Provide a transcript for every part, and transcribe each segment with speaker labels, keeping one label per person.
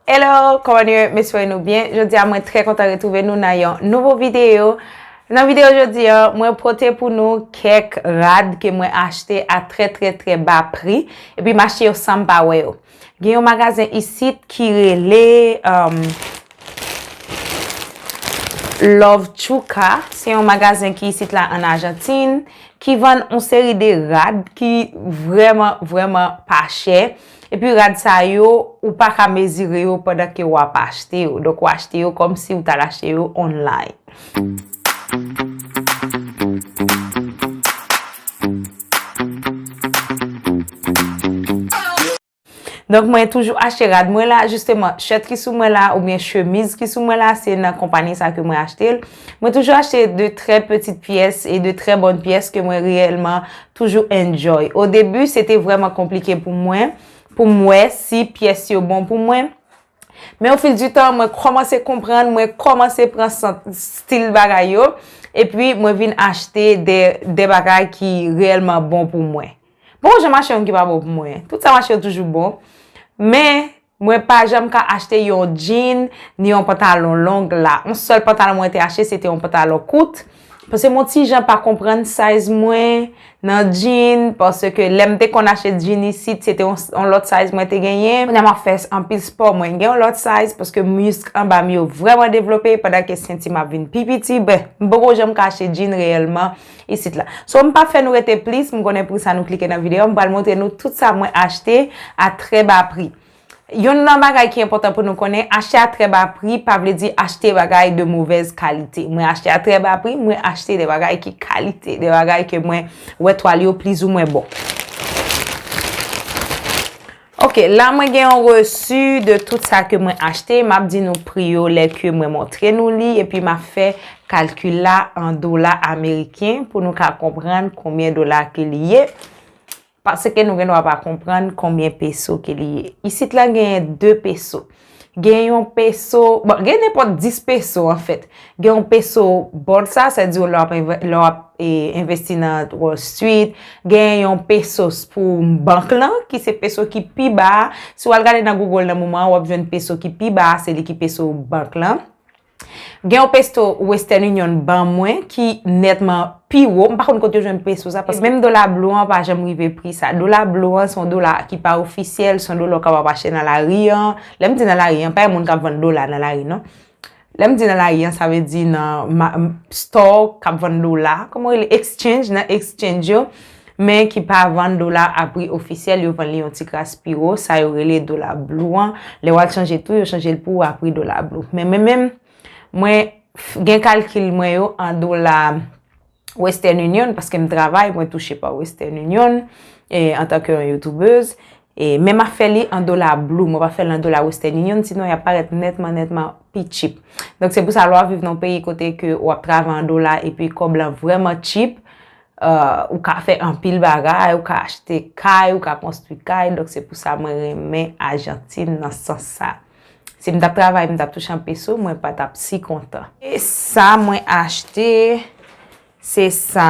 Speaker 1: Hello, kòman nou ye? M espere nou byen. Jodi a mwen trè kontan retwouve nou nan yon nouvo videyo. Nan videyo jodi a, mwen pote pou nou kèk rad ke mwen achte a trè trè trè ba pri. Epi m achte yo san m pa wè yo. Gen yon magazen isit ki rele Love Chouka. Se yon magazen ki isit la an Ajantin. Ki vann yon seri de rad ki vrèman vrèman pa chè. Epi. Epi rad sa yo, ou pa ka mezire yo pandan ke wap achte yo. Donk ou achte yo kom si ou tal achte yo online. Donk mwen toujou achte rad mwen la, jisteman, shirt ki sou mwen la, ou byen chemiz ki sou mwen la, se nan kompani sa ke mwen achte l. Mwen toujou achte de trè petit pyès e de trè bon pyès ke mwen reyèlman Toujou enjoy. Au début se te vrèman konplike pou mwen pou m wè si pyès yo bon pou mwen men au fil du temps mwen kòmanse konprann, mwen kòmanse pran sant stil bagay yo epi mwen vin achte de de bagay ki reyèlman bon pou mwen. Poko jan mache yon ki pa bon pou mwen. Tout sa mache yo toujou bon men Mwen pa janm ka achte yon jean ni yon pantalon long la. Yon sèl pantalon mwen te achte se te yon pantalon kout. Pase mwen ti jan pa konprann size mwen nan jean. Pase ke lèm te konn achte jean isit se te yon lòt size mwen te genyen. Kounya map fè anpil sport mwen gen yon lòt size. Paske misk anbam yo vreman devlope. Padan ke senti map vin pi piti. Bref, m poko janm ka achte jean reyèlman. isit la. So m pa fè nou rete plis, m konnen pou sa nou klike nan videyo, m pral montre nou tout sa mwen achte a trè ba pri. Yonn nan bagay ki enpòtan pou nou konnen, achte a trè ba pri pa vle di achte bagay de movèz kalite. Mwen achte a trè ba pri, mwen achte de bagay ki kalite, de bagay ke mwen wè twal yo plizoumwen bon. Ok la mwen gen yon resu de tout sa ke mwen achte, map di nou pri yo lè ke mwen montre nou li epi map fè kalkil la an dola ameriken pou nou ka konprann konbyen dola ke li ye, paske nou gen dwa pa konprann konbyen peso ke li ye. Isit la genyen 2 peso. Gen yon peso, bon gen nenpòt 10 peso an fèt. Gen yon peso bolsa, sa di yo lè w ap envesti nan Wall Street. Gen yon pesos pou bank lan, ki se peso ki pi ba. Si w al gade nan Google nan moman an, w ap jwenn peso ki pi ba, se li ki peso bank lan. Gen yon pesto Western Union ban mwen ki nètman pi wo. M pa konn kote yo jwenn pesto sa paske menm dola blo an pa janm rive pri sa. Dola blo an se yon dola ki pa ofisyèl, se yon dola ou kapab achte nan lari an. Lè m di nan lari an, pa gen moun k ap vann dola nan lari non. Lè m di nan lari an, sa vle di nan stò k ap vann dola, kòman yo rele, exchange, nan exchange yo. men ki pa vann dola a pri ofisyèl yo vann li yon ti kras pi wo, sa yo rele dola blue an, lè wal chanje tou yo chanje l pou ou a pri dola blue men mwen menm mwen gen kalkil mwen yo an dola western union paske m travay mwen touche pa western union antanke yon youtubeuse men ma fè li an dola blue mwen pa fè l an dola western union si non yap parèt nètman nètman pi chip donk se pou sa lè wap viv nan yon peyi kote ke wap travay an dola epi kòb la vrèman chip Ou ka fè anpil bagay, ou ka achte kay, ou ka konstwi kay. Donk se pou sa mwen renmen Ajantin nan sans sa. Si m t ap travay, m t ap touche an peso, mwen pa t ap si kontan. E sa mwen achte, se sa.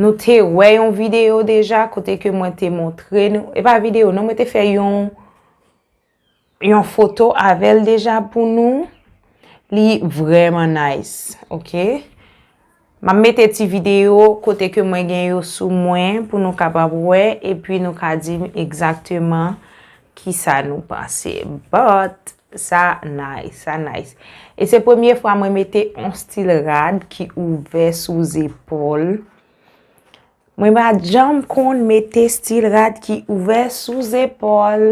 Speaker 1: Nou te wè yon videyo deja kote ke mwen te montre nou. E pa videyo, non mwen te fè yon. Yon foto avèl deja pou nou. Li vrèman nice. Ok. Map mete ti video kote ke mwen gen yo sou mwen pou nou kapab wè epi nou ka dim egzakteman ki sa nou panse. But, sa nice. Sa nice. E se premye fwa mwen mete yon stil rad ki ouvè sou zepòl. Mwen pa janm konn mete stil rad ki ouvè sou zepòl.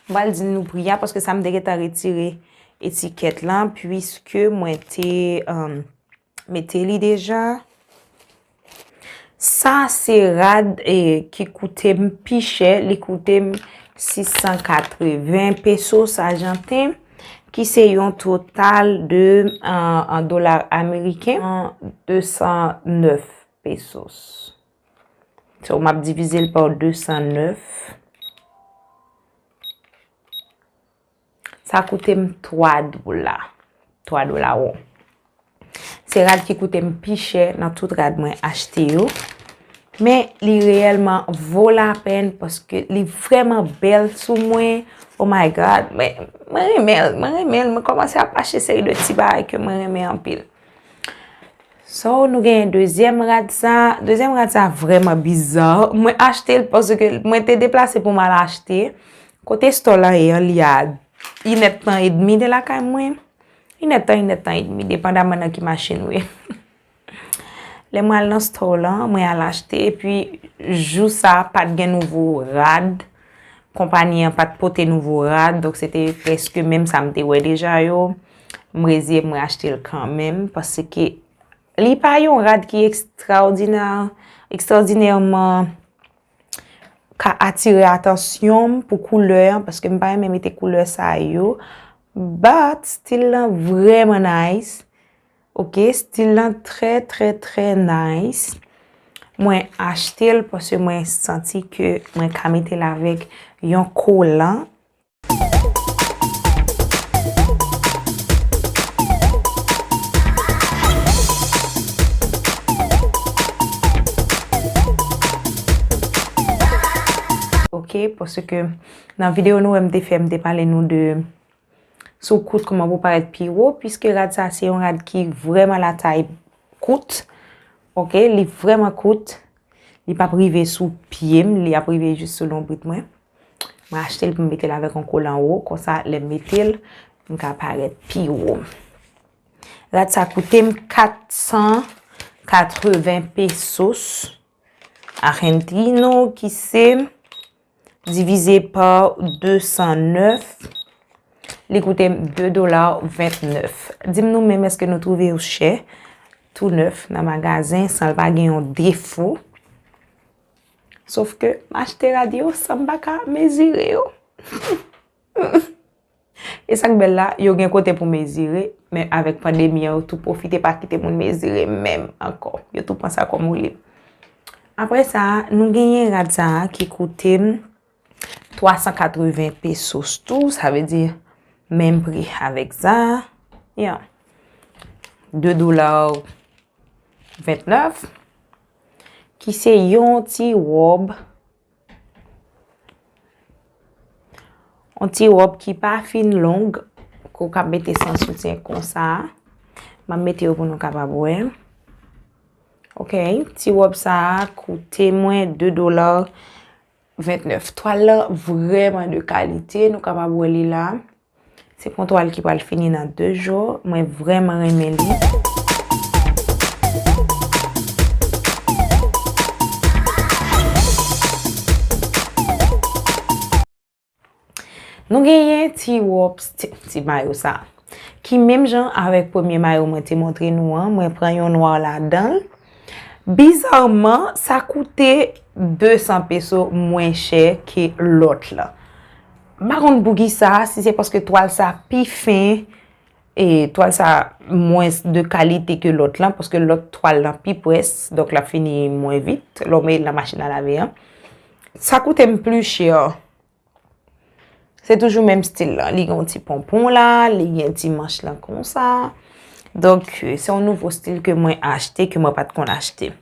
Speaker 1: M pral di nou pri a paske sa m te gentan retire etikèt lan. Puiske mwen te... Mete li deja. Sa se rad e ki koute m pi chè. Li koute m 680 pesos ajanten. Ki se yon total de an dolar ameriken. 209 pesos. So m ap divize l pa 209. Sa koute m 3 dola. 3 dola won. Se rad ki koute m pi chè nan tout rad mwen achte yo. Men li reyèlman vo la pen paske li vreman bèl sou mwen. Oh my God! Mwen renmen l. Mwen renmen l. Mwen komanse ap achte seri de ti bagay ke mwen renmen anpil. So nou genyen dezyèm rad sa. Dezyèm rad sa vreman biza. Mwen achte l pwase ke mwen te deplase pou mal achte. Kote store la ye an li a in et tan et demi de la kay mwen. In et tan, in et tan et demi. Depandaman nan ki machin ou ye. Le mwen al nan store la, mwen al achte. E pi jou sa pat gen nouvo rad. Konpani an pa t pote nouvo rad, donk se te prèske menm sa m te wè deja yo. M reziye mwen achte l kanmenm, paske li pa yon rad ki ekstraòdinè, ekstraòdinèman ka atire atansyon m pou koulè an, paske m pa renmen mete koulè sa yo. But, stil lan vrèman nice. Ok stil lan trè trè trè nice. Mwen achte l pwase mwen santi ke mwen ka mete l avèk yon kolan. Ok pwase ke nan video nou wè m te fè m te pale nou de. Sou kout kouman pou parèt pi wo, piske rad sa se yon rad ki vreman la tay kout, ok, li vreman kout, li pap rive sou pyem, li ap rive jis sou lonbrit mwen, mwen achte l pou m mete l avèk yon kolan wo, konsa lè m mete l, m ka parèt pi wo. Rad sa koute m 480 pesos, argentino, ki se. Divize pa 209, li koute 2 dola 29. Dim nou menm eske nou twouve yo chè, tou nèf nan magazen, san l pa gen yon defo. Sof ke m achte rad yo san m pa ka mezire yo. E sa k bèl la, yo gen kote pou mezire, men avèk pandemi an yo tou pwofite pa kite moun mezire menm ankò. Yo tou pran sa kòm woulib. Apre sa, nou genyen rad sa a ki koute m 380 pesos tou, sa vle di menm pri avèk sa a. Ya. 2 dola 29. Ki se yon ti wòb On ti wòp ki pa fin long, kou kap mete san soutyen konsa. Map mete yo pou nou kapab wè. Ok, ti wòp sa a koute mwen 2 dola 29. Twal la vreman de kalite, nou kapab wè li la. Se pon twal ki pral fini nan 2 jou. Mwen vreman renmen li. Nou genyen ti wop, ti mayo sa. Ki menm jan avèk premye mayo mwen te montre nou an. Mwen pran yon nwa la dan. Bizarman, sa koute 200 peso mwen chè ke lot la. M pa konn poukisa, si se paske twal sa pi fen, e twal sa mwens de kalite ke lòt lan, paske lòt twal lan pi pwès, donk l ap fini mwen vit, lè w mete l nan machin a lave an. Sa koute m pli chè, se toujou menm stil lan, li gen yon ti ponpon la, li gen ti manch lan konsa, donk se yon nouvo stil ke mwen achte, ke mwen pa t konn achte.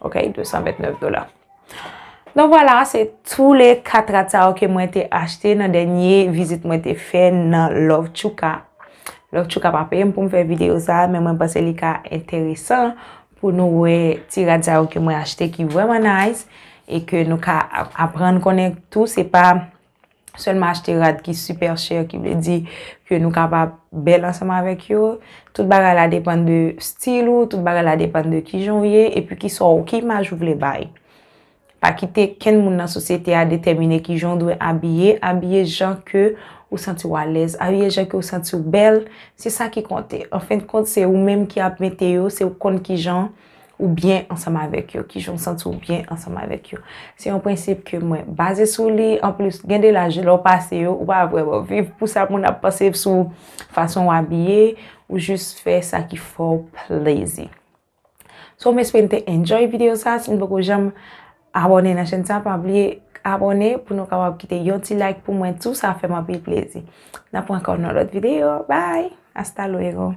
Speaker 1: Ok, 229 dola. Don wala, se tou le 4 rad sa yo ke mwen te achte nan denye vizit mwen te fè nan Love Chouka. Love Chouka pa peyem pou m fè video sa, men mwen panse li ka enteresan pou nou we ti rad sa yo ke mwen achte ki vreman nice e ke nou ka aprann konnen tou se pa sèlman achte rad ki super chè ki vle di ke nou kapab bèl ansanm avèk yo. Tout bagay la depann de stil ou, tout bagay la depann de kijan ou ye, epi ki sa ou, ki imaj ou vle bay. Pa kite kenn moun nan sosyete a detèmine kijan ou dwe abiye, abiye jan ke ou santi ou alèz, abiye jan ke ou santi ou bèl, se sa ki konte. Anfendkont se ou menm ki ap mete yo, se ou konn kijan. ou byen ansanm avèk yo, kijan ou santi ou byen ansanm avèk yo. Se yon prensip ke mwen baze sou li, anplis gen de laj lè ou pase yo, ou pa vreman viv pou sa moun ap panse sou fason ou abiye, ou jis fè sa ki fè ou plezi. So m espere n te enjoy video sa, si n poko janm abone nan chèn sa, pa bliye abone pou nou kapab kite yon ti like pou mwen tou, sa fè m anpil plezi. N ap wè ankò nan lòt video, bye! Hasta luego!